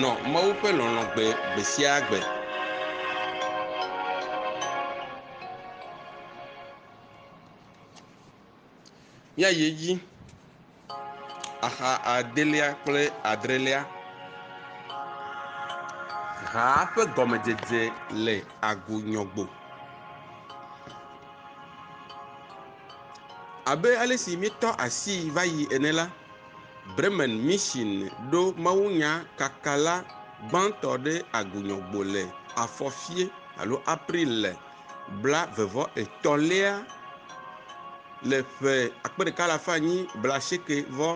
Nɔ Mawu ƒe lɔlɔ̃ gbe gbe sia gbe. Ya yi edzi. Axa adelia kple adrelia. Haa ƒe gɔmedzedze le agonyɔgbo. Abe ale si míetɔ asii va yi ene la, Bremen Mission ɖo mawunya kakala gbãtɔ ɖe agunyɔgbo le afɔfie alo April le bla vevɔ etɔ lea le ƒe akpe ɖeka alafa nyi bla sheke vɔ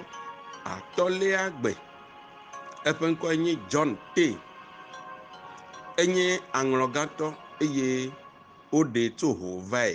atɔ lea gbe. Eƒe ŋkɔe nye John Tay. Enye aŋlɔgãtɔ eye woɖee tso ho vae.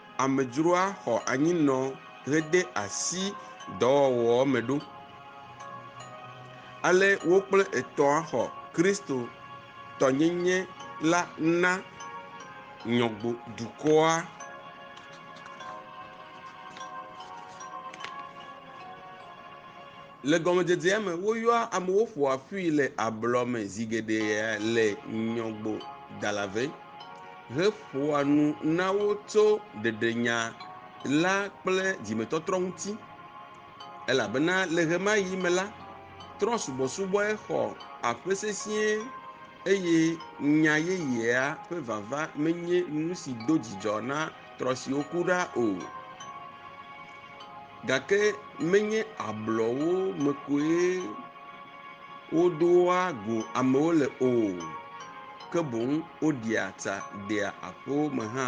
Amedzroa xɔ anyinɔ hede asi dɔwɔwɔa me ɖo. Ale wo kple etɔ̃a xɔ Kristotɔnyenye la na Nyɔgbo dukɔa. Le gɔmedzedzea me, woyɔa amewo ƒoa ƒui le ablɔ me zi geɖe le Nyɔgbo Dalave. heƒoa nu na wo tso ɖeɖenya la kple dzimetɔtrɔ ŋuti, elabena le ɣemaɣi me la, trɔ̃subɔsubɔe xɔ aƒe sesĩe eye nya yeyea ƒe vava menye nu si do dzidzɔ na trɔ̃ siwo ku ɖa o. Gake menye ablɔwo me koe Wodoa go amewo le o, ke boŋ woɖia tsa dea aƒewo me hã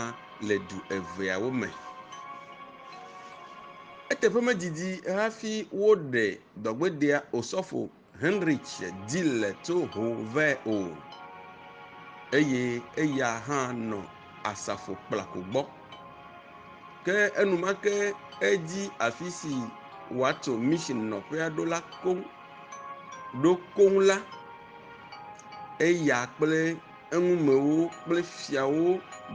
le du eveawo me. Eteƒe medidi hafi woɖe dɔgbedea Osɔfo Heinrich Dille tso ho vɛ o eye eya hã nɔ Asafo Kplako gbɔ. ke enumake edi afi si wòatso mission nɔƒea ɖo la koŋ. Ɖo koŋ la, eya kple eŋumewo kple fiawo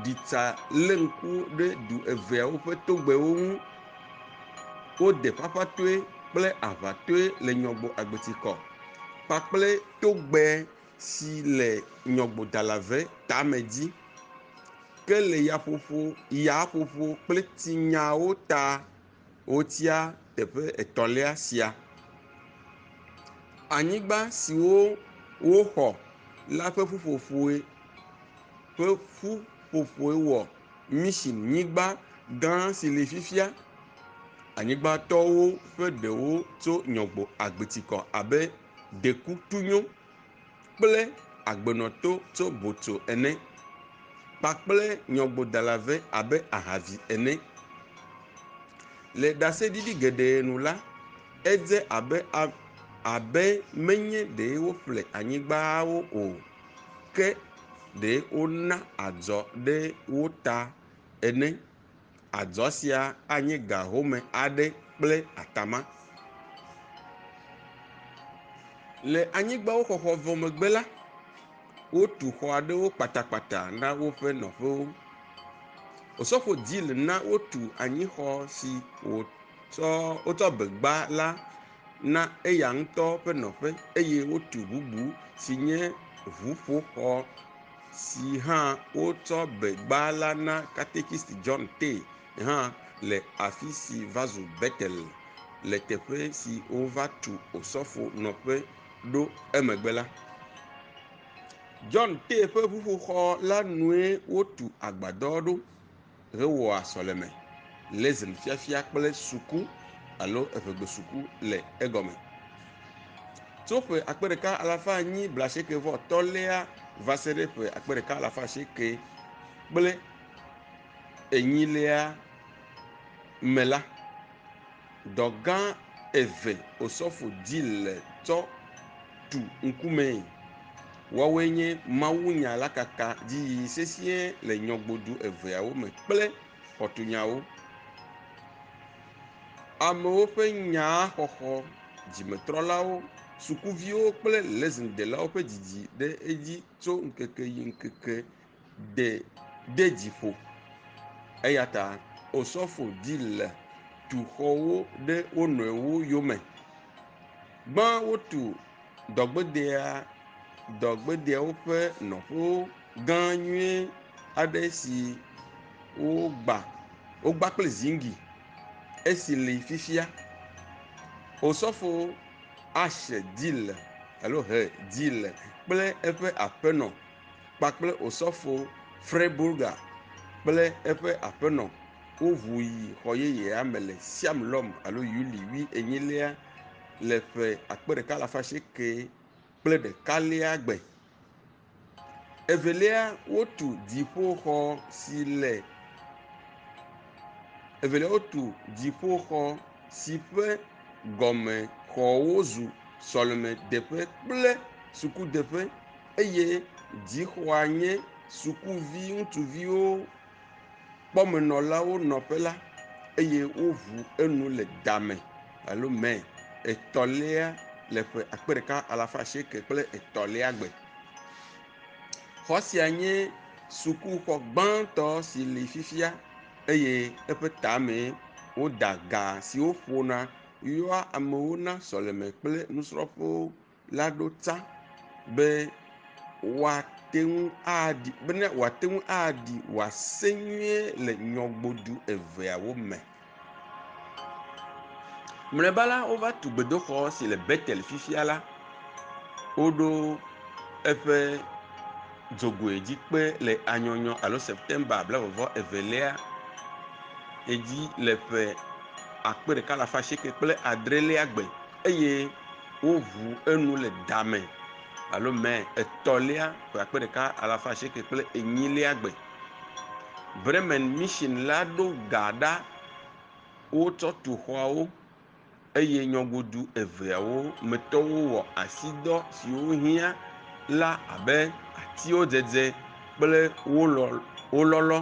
ɖi tsa lé ŋku ɖe du eveawo ƒe togbɛwo ŋu. Wode ƒaƒãtɔe kple aʋatɔe le Nyɔgbo Agbetikɔ kpakple togbɛ. si le nyɔgbodalave tame dzi, ke le yaƒoƒo, yaƒoƒo kple tsinyawo ta wotia teƒe etɔ̃lia sia. Anyigba siwo woxɔ la ƒe ƒuƒoƒoe ƒe ƒuƒoƒoe wɔ Michinyigba gã si li fifia. Anyigbatɔwo ƒe ɖewo tso Nyɔgbo agbitikɔ abe ɖekutunyo kple agbenɔto tso botso ene kpakple nyɔgbodala vɛ abe ahavi ene. Le ɖaseɖiɖi geɖe nu la, edze abe ame abe menye ɖe woƒle anyigbawo o ke ɖe wona adzɔ ɖe wo ta ene. Adzɔ sia anye ga home aɖe kple atama. Le anyigbawoxɔxɔ vɔ megbe la, wotu xɔ aɖewo kpatakpata na woƒe nɔƒewo. Osofo Gill na wotu anyixɔ si wòtsɔ wotsɔ be gba la na eya ŋutɔ ƒe nɔƒe eye wotu bubu si nye ŋuƒoxɔ. si hã wotsɔ begba la na katekist John Tay hã le afi si va zu Betel le teƒe si wova tu osɔfo nɔƒe ɖo emegbe la. John Tay ƒe ʋuƒoxɔ la nue wotu agbadɔ ɖo. hewɔa sɔleme, lesn fiafia kple suku alo evegbesuku le egɔme. Tso ƒe akpe ɖeka alafa enyi blaasieke vɔ tɔ̃lia va se ɖe ƒe akpe ɖeka alafa asieke kple enyilia me la, Dɔ gã eve osɔfo di le tsɔ tu ŋkumee. Woawoe nye mawunya la kaka dziyiyi sesĩe le nyɔgbodu eveawo me kple xɔtunyawo. Amewo ƒe nyaa xɔxɔ, dzimetrɔlawo, sukuviwo kple lesin delawo ƒe didi ɖe edzi tso ŋkeke yi ŋkeke ɖe de dzi ƒo. Eya ta osɔfo di le tu xɔwo ɖe wo nɔewo yome. Gbã wotu dɔgbedea dɔgbedeawo ƒe nɔƒewo gã nyui aɖe si wogba wogba kple ziŋgi esi li fifia. Osɔfo Asher Dille alo Hur Dille kple eƒe aƒenɔ. kpakple Osɔfo Freiburger kple eƒe aƒenɔ woʋu yi xɔ yeyea me le Siam lɔm alo Yuli wi enyilia le ƒe akpe ɖeka alafa asieke kple ɖeka lia gbe. Evelia wotu dziƒoxɔ si le evelia wotu dziƒoxɔ si ƒe gɔme xɔwo zu sɔlemedeƒe kple sukudeƒe. eye dzixɔa nye sukuvi ŋutsuviwo kpɔmenɔlawo nɔƒe la eye woʋu enu le dame alo mɛ etɔlia le ƒe akpe ɖeka alafa asieke kple etɔlia gbe. Xɔ sia nye sukuxɔ gbãtɔ si li fifia eye eƒe tame woda ga siwo ƒona yɔa amewo na sɔleme kple nusrɔ̃ƒewo la ɖo ta be woate ŋu aɖi be ne woate ŋu aɖi wòase nyuie le nyɔgbodu eveawo me. Mlɔeba la, wova tu gbedoxɔ si le Betel fifia la. Woɖo eƒe dzogoe dzi kpe le anyɔnyɔ alo Septemba blaevevɔ evelia edzi le ƒe akpe ɖeka alafa asieke kple adrelia gbe. eye woŋu enu le da me alo mɛ etɔ̃lia ƒe akpe ɖeka alafa asieke kple enyilia gbe. Bremen Mission la ɖo ga ɖa wotsɔ tu xɔawo eye nyɔgodu eveawo me tɔwo wɔ asidɔ siwo hiã la abe atiwo dzedze kple wo lɔlɔ,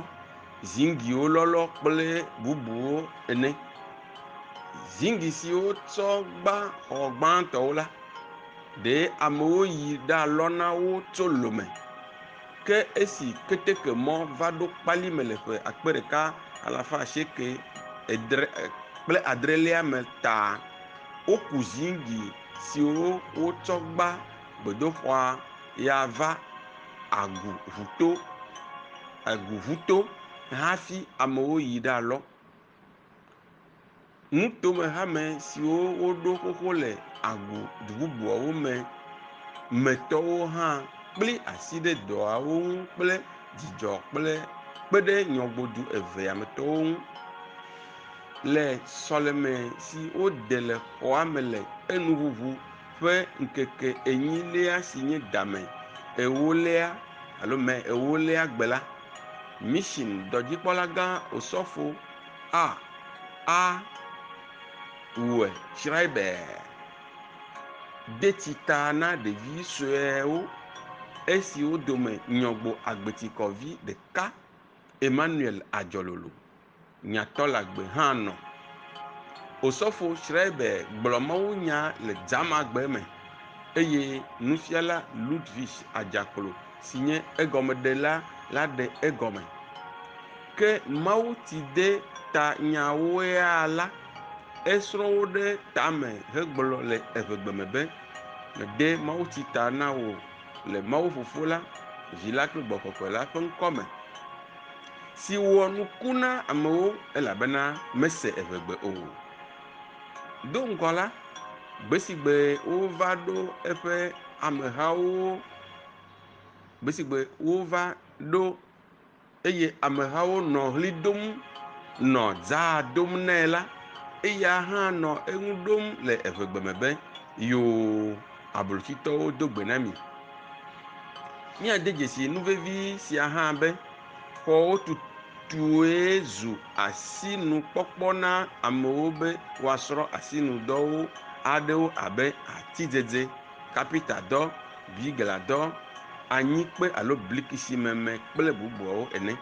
ziŋgiwo lɔlɔ kple bubuwo ene. Ziŋgli siwo tsɔ gbã xɔ gbãtɔwo la, ɖee amewo yi ɖalɔ na wo tso lome. Ke esi ketekemɔ va ɖo kpali me le ƒe akpe ɖeka alafa asieke edre kple adrelia me ta woku ziŋgli siwo wotsɔ gbã gbedoxɔa ya va Agu ŋuto Agu ŋuto hafi amewo yi ɖalɔ. Nutome hame siwo woɖo xoxo le agbo du bubuawo me me tɔwo hã kpli asi ɖe dɔawo ŋu kple dzidzɔ kple kpe ɖe nyɔgodu evea me tɔwo ŋu le sɔleme si wode le xɔa me le enuŋuŋu ƒe ŋkeke enyilia si nye Dame Ewolia alo Mei Ewolia gbe la. Mission dɔdzikpɔlagã Osɔfo A. A. Ue Schreiber de tsi ta na ɖevi suewo esiwo dome Nyɔgbo Agbetikɔvi ɖeka, Emmanuel Adzɔlolo. nyatɔlagbe hã nɔ. Osofo Schreiber gblɔ mawunya le Dzamagbe me eye nufiala Ludwig Adzaklo si nye egɔmeɖela la ɖe egɔme. Ke mawutidetanyawoea la, esrɔ̃ wo ɖe tame hegblɔ le evegbe me be, Mede mawutsi ta na wò le Mawu Fofo la, Vi la kple Gbɔgbɔ Kɔkɔe la ƒe ŋkɔ me. si wɔ nuku na amewo elabena mese eŋegbe o. Do ŋgɔ la, gbe si gbe wova ɖo eƒe amehawo, gbe si gbe wova ɖo eye amehawo nɔ ʋli dom nɔ dzaa dom nɛ la, eya hã nɔ eŋu ɖom le eŋegbe me be, Yoo! Ablotitɔwo do gbe na mi. Míade dzesii nu vevi sia hã be xɔwo tutue zu asinukpɔkpɔ na amewo be woasrɔ̃ asinudɔwo aɖewo abe atidzedze, kapitadɔ, bigladɔ, anyikpe alo blikisimeme kple bubuawo ene.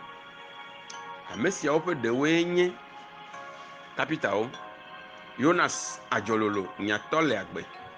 Ame siawo ƒe ɖewoe nye kapitawo, Yonas adzɔlolo nyatɔ le agbe.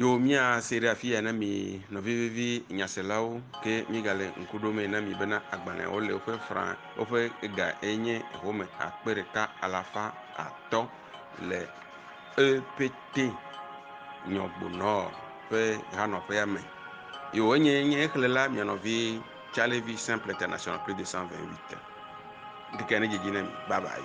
Yo mía se ɖe afi ya na mi nɔvi vevi nyaselawo ke míegale ŋku ɖo mee na mi bena agbalẽawo le woƒe fra woƒe ga enye home akpe ɖeka alafa atɔ le epete nyɔgbonɔ ƒe hanɔƒea me. Yo enye nye exlẽla mia nɔvi Charlie V. Simple International plus 228. Ŋkeke ne dzedzi na mi. Bye bye.